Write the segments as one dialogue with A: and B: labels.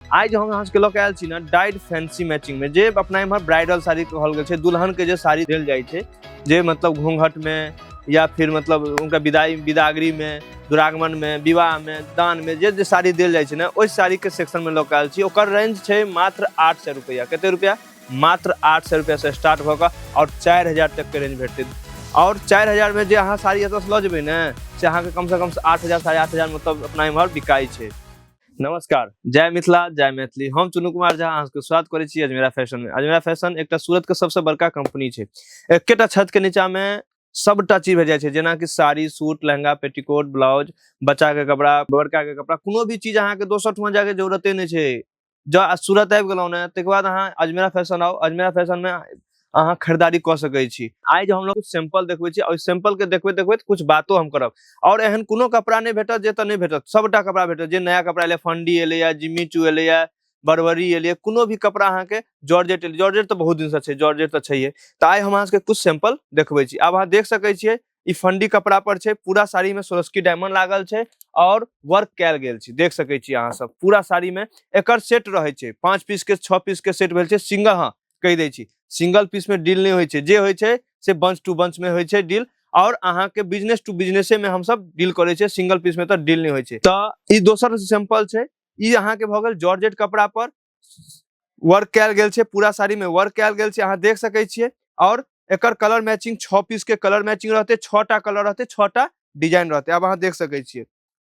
A: आइ जे हम अहाँके लऽ के आयल छी ने डाइट फैंसी मैचिंग में जे अपना इम्हर ब्राइडल साड़ी कहल गेल छै दुल्हन के जे साड़ी देल जाइ छै जे मतलब घूंघट में या फिर मतलब उनका विदाई विदागरी में दुरागमन में विवाह में दान में जे जे साड़ी देल जाइ छै ने ओहि साड़ी के सेक्शन में लऽ के आयल छी ओकर रेंज छै मात्र आठ सौ रुपया कते रुपया मात्र आठ सौ रुपया से स्टार्ट भऽ कऽ आओर चारि हजार तक के रेंज भेटतै आओर चारि हजार में जे अहाँ साड़ी एतऽसँ लऽ जेबै ने से अहाँके कमसँ कम आठ हजार साढ़े आठ हजार मतलब अपना इम्हर बिकाइ छै नमस्कार जय मिथिला जय मैथिली हम चुनू कुमार झा अहाँके स्वागत करै छी अजमेरा फैशन में अजमेरा फैशन एकटा सूरत के सबसे बड़का कंपनी छै एकेटा छत के नीचा में सबटा चीज भेट जाइ छै जेना कि sari suit lehenga petticoat blouse बच्चा के कपड़ा बड़का के कपड़ा कोनो भी चीज अहाँके दोसर ठमा जाके जरूरते नहि छै जँ सूरत आबि गेलहुँ ने ताहिके बाद अहाँ अजमेरा फैशन आउ अजमेरा फैशन में अहाँ खरीदारी कऽ सकैत छी आइ जे हम लोग सैंपल देखबै छी ओहि सैंपल के देखबैत देखबैत कुछ बातो हम करब आओर एहन कोनो कपड़ा नहि भेटत जे तऽ नहि भेटत सभटा कपड़ा भेटत जे नया कपड़ा एलै फंडी एलैए जिम्मी चू एलैए बरबरी एलियै कोनो भी कपड़ा अहाँके जॉर्जेट एलियै जॉर्जेट तऽ बहुत दिनसँ छै जॉर्जेट तऽ छैहे तऽ आइ हम अहाँके कुछ सैंपल देखबै छी आब अहाँ देख सकैत छियै ई फंडी कपड़ा पर छै पूरा साड़ी में सोरस्की डायमंड लागल छै और वर्क कैल गेल छै देख सके छी अहाँ सब पूरा साड़ी में एक सेट रहे छै पांच पीस के छह पीस के सेट भेल छै सिंगल हाँ कहि दै छी सिंगल पीस में डील नहीं होइ छै जे होइ छै से बंच टू बंच में होइ छै डील और अहाँ के बिजनेस टू बिजनेसे में हम सब डील करे छै सिंगल पीस में तो डील नहीं होइ छै तो ई दोसर सैंपल छै ई अहाँ के भ गेल जॉर्जेट कपड़ा पर वर्क कयल गेल छै पूरा साड़ी में वर्क कयल गेल छै अहाँ देख सकै छियै और एकर कलर मैचिंग छः पीस के कलर मैचिंग रहते छः टा कलर रहते छः टा डिजाइन रहते अब अहाँ देख सकै छियै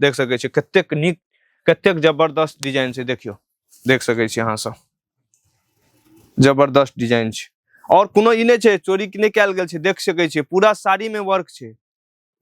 A: देख सकै छियै कतेक नीक कतेक जबरदस्त डिजाइन छै देखियौ देख सकै छियै अहाँ सब जबरदस्त डिजाइन छै और कोनो ई नहि छै चोरी नहि कयल गेल छै देख सकै छियै पूरा साड़ी में वर्क छै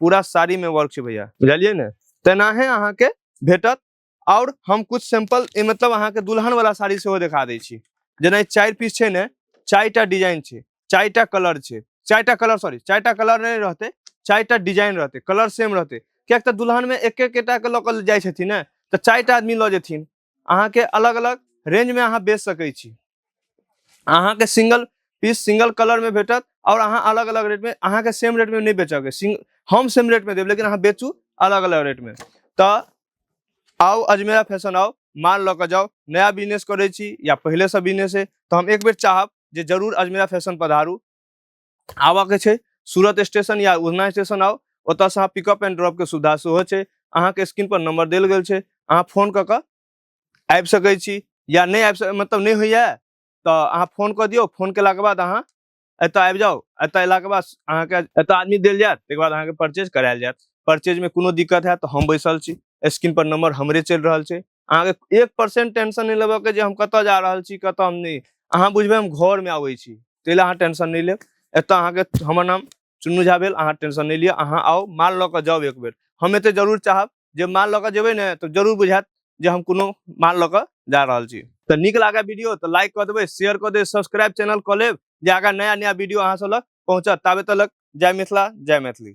A: पूरा साड़ी में वर्क छै भैया बुझलियै ने तेनाहे अहाँके भेटत और हम कुछ सैंपल मतलब अहाँके दुल्हन वाला साड़ी सेहो देखा दै छी जेना चारि पीस छै ने चारिटा डिजाइन छै चारिटा कलर छै चारिटा कलर सॉरी चारिटा कलर नहि रहतै चारिटा डिजाइन रहतै कलर सेम रहतै किएक तऽ दुल्हनमे एक एकेटाके लऽ कऽ जाइ छथिन ने तऽ चारिटा आदमी लऽ जेथिन अहाँके अलग अलग रेंजमे अहाँ बेच सकै छी अहाँके सिंगल पीस सिंगल कलरमे भेटत आओर अहाँ अलग अलग रेटमे अहाँके सेम रेटमे नहि बेचके सिंग हम सेम रेटमे देब लेकिन अहाँ बेचू अलग अलग रेटमे तऽ आउ अजमेरा फैशन आउ माल लऽ कऽ जाउ नया बिजनेस करै छी या पहिलेसँ बिजनेस है तऽ हम एक बेर चाहब जे जरूर अजमेरा फैशन पधारू आबऽके छै सूरत स्टेशन या उधना स्टेशन आउ ओतऽसँ अहाँ पिकअप एंड ड्रॉपके सुविधा सेहो छै अहाँके स्क्रीनपर नम्बर देल गेल छै अहाँ फोन कऽ कऽ आबि सकै छी या नहि आबि सक मतलब नहि होइए तऽ अहाँ फोन कऽ दियौ फोन केलाके बाद अहाँ एतऽ आबि जाउ एतऽ अयलाके बाद अहाँके एतऽ आदमी देल जायत ताहिके बाद अहाँके परचेज करायल जायत परचेजमे कोनो दिक्कत हैत तऽ हम बैसल छी स्क्रीनपर नम्बर हमरे चलि रहल छै अहाँके एक परसेंट टेंशन नहि लेबऽ के जे हम कतऽ जा रहल छी कतऽ हम नहि अहाँ बुझबै हम घर में आबै छी ताहि लए अहाँ टेंशन नहि लेब एतऽ अहाँके हमर नाम चुन्नू झा भेल अहाँ टेंशन नहि लिअ अहाँ आउ माल लऽ कऽ जाउ एक बेर हम एते जरूर चाहब जे माल लऽ कऽ जेबै ने तऽ जरूर बुझायत जे हम कोनो माल लऽ कऽ जा रहल छी तऽ नीक लागै वीडियो तऽ लाइक कऽ देबै शेयर कऽ देबै सब्सक्राइब चैनल कऽ लेब जे आगाँ नया नया वीडियो अहाँ सब लग पहुँचत ताबे तलक जय मिथिला जय मैथिली